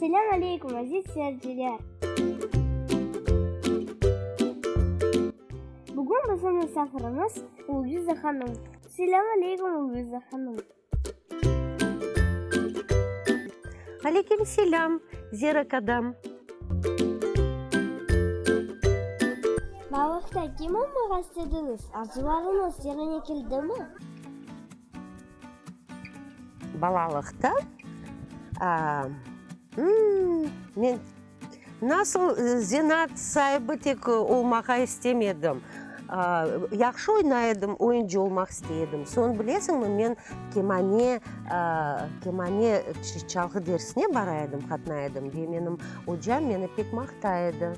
Selâm aleykum, aziz seyirciler! Bugün bizim misafirimiz Lüiza hanım. Selâm aleykum, Lüiza hanım! Aleykum selâm, Zera kadam! Balıqta kim olmağa istediniz? Arzularıñız yerine keldimi? Balalıqta men nasıl zenaat saibi tek olmağa istem edim. Yahşı oynay edim, oyuncı olmaq istey edim. Soñ bilesiñmi, men kemane, kemane çalğı dersine bara edim, qatnay edim ve menim ocam meni pek maqtay edi.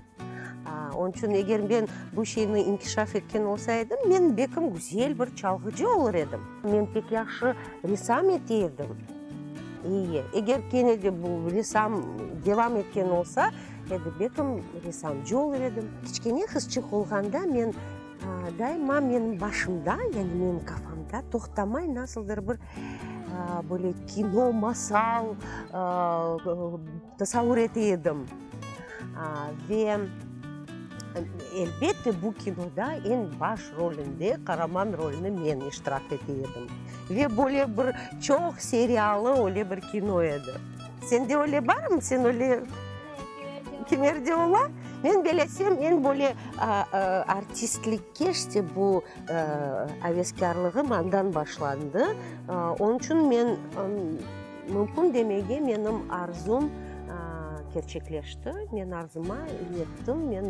Onıñ içün eger men bu şeyni inkişaf etken olsa edim, men belkim güzel bir çalğıcı olur edim. Men pek yahşı ressam ete edim. İyi, eger kene de bu ressam devam etken olsa edi, belkim ressamcı olur edim. Kiçkene qızçıq olğanda men daima menim başımda, yani menim kafamda toqtamay nasıldır bir böyle kino, masal, Tasavur ete edim. Ve, elbette, bu kinoda eñ baş rolinde, qaraman rolinde men iştirak ete edim. Ve böyle bir çoq seriyalı öyle bir kino edi. Sende öyle barmı? Sen öyle kimlerde ola? Men belesem, eñ böyle artistlikke, işte bu aveskârlığım andan başlandı. Onıñ içün men. Mümkün demege menim arzum kerçekleşti, men arzuma yettim, men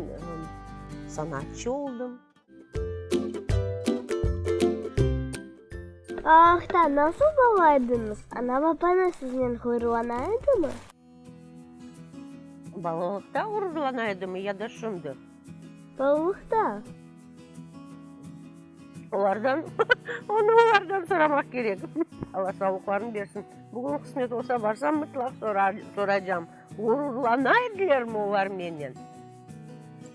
sanatçı oldım. Ağaqta nasıl bala ediñiz? Ana-babañız siznen ğuyrulana edimi? Balalıqta ğururlana edimi ya da şimdi? Sağlıqta. Olardan, onı olardan soramaq kerek. Alla sağlıqlarını bersin. Bugün qısmet olsa barsam, mıtlaq soraycam. Ğururlana edilermi olar menen?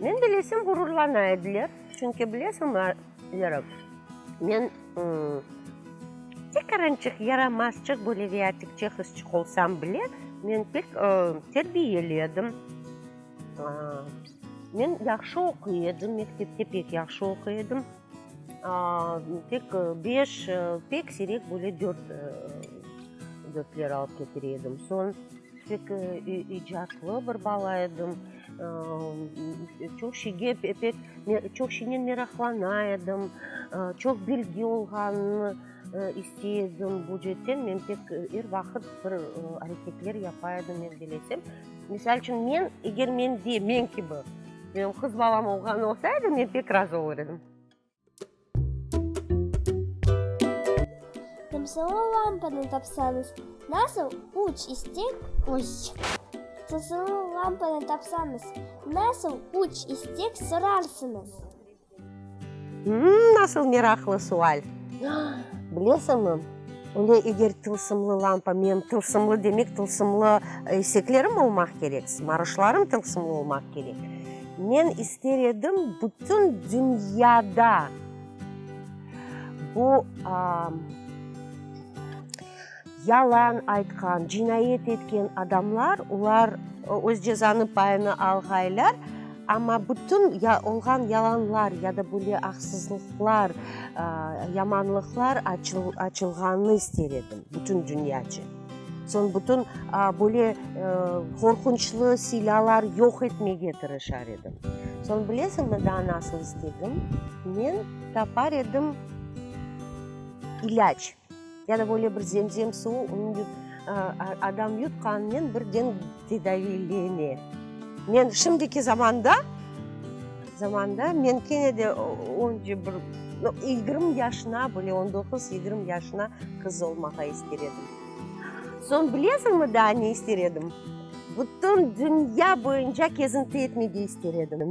Men bilesem, ğururlana ediler. Çünki bilesiñmi, Vera, men tekarançıq, yaramazçıq, böyle viatikçe qızçıq olsam bile, men pek terbiyeli edim. Men yahşı oquy edim, mektepte pek yahşı oquy edim. Tek beş, pek sirek böyle dört, dörtler alıp ketir edim. Soñ pek icatlı bir bala edim. Çoq şeyge pek, çoq şeynen meraqlana edim. Çoq bilgi olğanımnı istey edim. Bu cetten men pek er vaqıt bir areketler yapa edim, men bilesem. Misal içün, men, eger mende, men kibi, menim qız balam olğan olsa edi, men pek razı olur edim. Qırmsılı lampanı tapsañız, nasıl üç istek, oy, qırmsılı lampanı tapsañız, nasıl üç istek sorarsıñız? Nasıl meraqlı sual! Bilesiñmi, öyle eger tılsımlı lampa, menim tılsımlı demek, tılsımlı eseklerim olmaq kerek, sımarışlarım tılsımlı olmaq kerek. Men ister edim, bütün dünyada bu Yalan aytqan, cinayet etken adamlar, olar öz cezanı payını alğaylar, amma bütün olğan yalanlar ya da böyle aqsızlıqlar, yamanlıqlar açılğanını ister edim, bütün dünyaca. Soñ bütün böyle qorqunçlı silâlar yoq etmege tırışar edim. Soñ bilesiñmi daa nasıl istedim? Men tapar edim ilâc. Ya da böyle bir zemzem suvu, onı adam yutqanınen birden tedaviylene. Men şimdiki zamanda, zamanda men kene de onca bir, yigirmi yaşına, böyle on doquz, yigirmi yaşına qız olmağa ister edim. Soñ bilesiñmi daa ne ister edim? Bütün dünya boyunca kezinti etmege ister edim.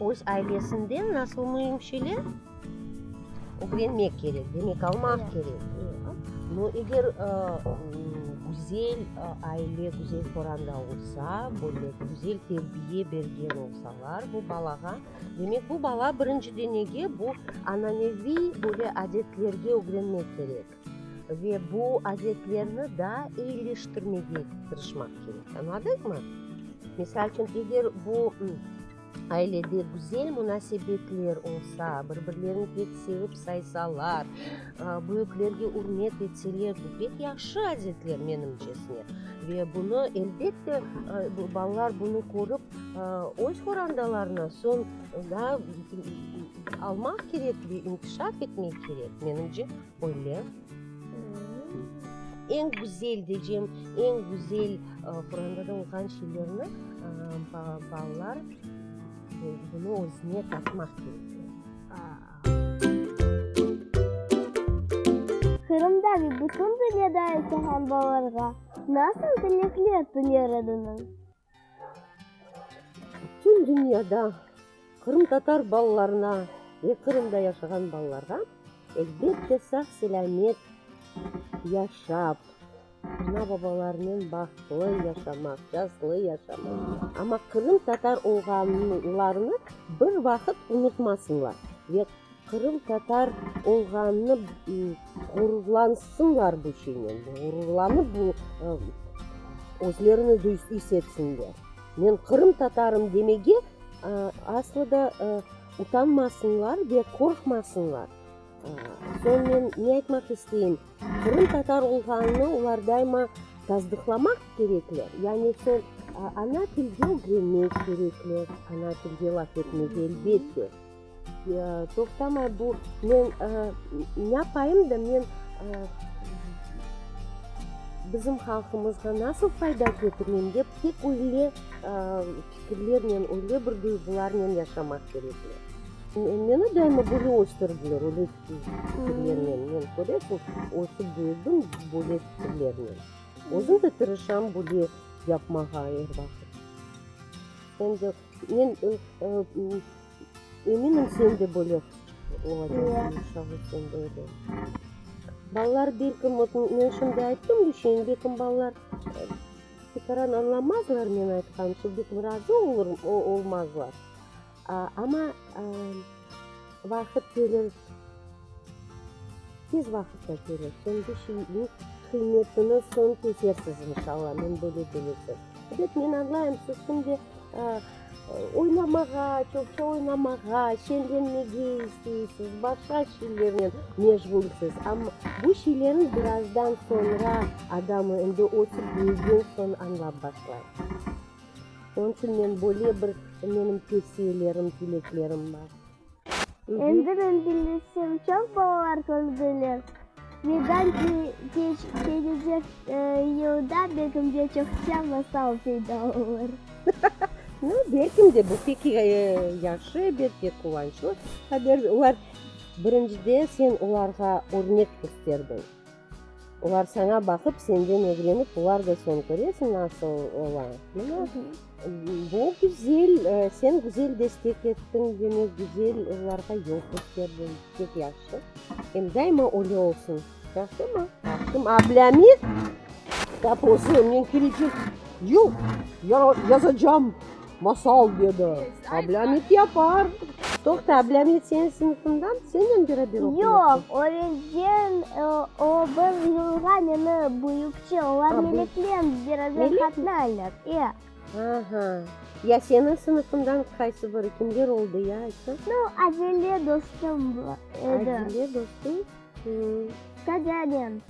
Öz ailesinden nasıl müimşeler ögrenmek kerek, demek almaq kerek. No eger güzel aile, güzel qoranda olsa, böyle güzel terbiye bergen olsalar bu balağa, demek bu bala birinciden nege bu ananeviy böyle adetlerge ögrenmek kerek. Ve bu adetlerni daa eyileştirmege tırışmaq kerek. Añladıñmı? Misal içün, eger bu ailede güzel munasebetler olsa, bir-birlerini pek sevip saysalar, büyüklerge ürmet etseler, bu pek yahşı adetler, menimce. Ve bunı, elbette, balalar bunı körip, öz qorandalarına soñ daa Almaq kerek ve inkişaf etmek kerek, menimce, böyle. Eñ güzel diycem, eñ güzel Quranda da olğan şeylerni balalar bunı özüne tatmaq kerek. Qırımda ve bütün dünyada ise həm balalarğa nasıl tilekler tüler ediñiz? Bütün dünyada qırımtatar balalarına ve Qırımda yaşağan balalarğa, elbette, sağ-selâmet yaşap, ana-babalarınen bahtlı yaşamaq, cazlı yaşamaq, amma qırımtatar olğanlarını bir vaqıt unutmasınlar ve. Qırımtatar olğanını ğururlansınlar bu şeynen, ğururlanıp bu özlerini is etsinler. Men qırımtatarım demege aslı da utanmasınlar ve qorqmasınlar. Soñ men ne aytmaq isteyim, qırımtatar olğanını olar daima tasdıqlamaq kerekler, yani soñ ana tilde ögrenmek kerekler, ana tilde laf etmege, elbette. Toqtamay bu, men nâpayım da, men bizim halqımızğa nasıl fayda ketireyim dep, tek öyle fikirlernen, öyle bir duyğularnen yaşamaq kerekmi? Meni daima böyle östürdüler, öyle fikirlernen. Men, köresiñ, ösip büyüdim böyle fikirlernen. Özüm de tırışam böyle yapmağa er vaqıt. Endi men Eminim, sen de böyle olacaqsıñ. Balalar belki, men şimdi ayttım, düşün, belki balalar tekaran añlamazlar men aytqanımnı, belki razı olmazlar. Amma vaqıt kelir, tez vaqıtta kelir, soñki şeyniñ qıymetini soñ kesersiz, inşallah, men böyle bilesiz. Ebet, men añlayım, siz şimdi Oynamağa, çoqça oynamağa, şenlenmege isteysiz, başqa şeylernen meşğulsiz. Amma bu şeylerni birazdan soñra adam endi ötüp büyügen soñ añlap başlay. Onıñ içün men böyle bir, menim tevsiyelerim, tileklerim bar. Endi men bilmesem, çoq balalar kördiler. Birden kelecek yılda belkim de çoqça masal peyda olur. No, belkim de, bu pek yahşı bir quvançlı haber. Birinci de, sen olarğa örnek kösterdiñ. Olar saña baqıp, senden ögrenip, olar da soñ köresiñ nasıl ola. Mına bu güzel, sen güzel destek ettiñ, demek güzel olarğa yol kösterdiñ. Pek yahşı. Em daima öyle olsun. Yahşımı? Yahşım ablâmi taposu men kelecek yıl yazacağım. Masal, dedi, ablâmet yapar. Toqta, ablâmet seniñ sınıfından? Senden beraber oquyasan? Yoq, öğrengen, o bir yılğa meni büyükçe, olar Meleknen beraber qatnaylar, e. Aha, ya seniñ sınıfından qaysı biri, kimler oldı, ya, aytsañ? No, Adile dostum edi. Adile dostum? Stadianen.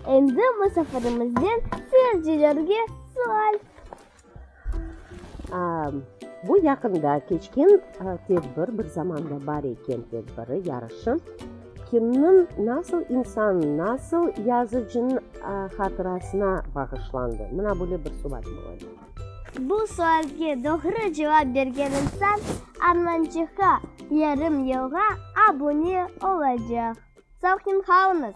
Endi musafirimizden seyircilerge sual. Bu yaqında keçken tedbir, bir zamanda bar eken tedbiri, yarışı, kimniñ, nasıl insannıñ, nasıl yazıcınıñ hatırasına bağışlandı? Mına böyle bir sual ola. Bu sualge doğru cevap bergen insan Armançıqqa yarım yılğa abune olacaq. Sağ olñız!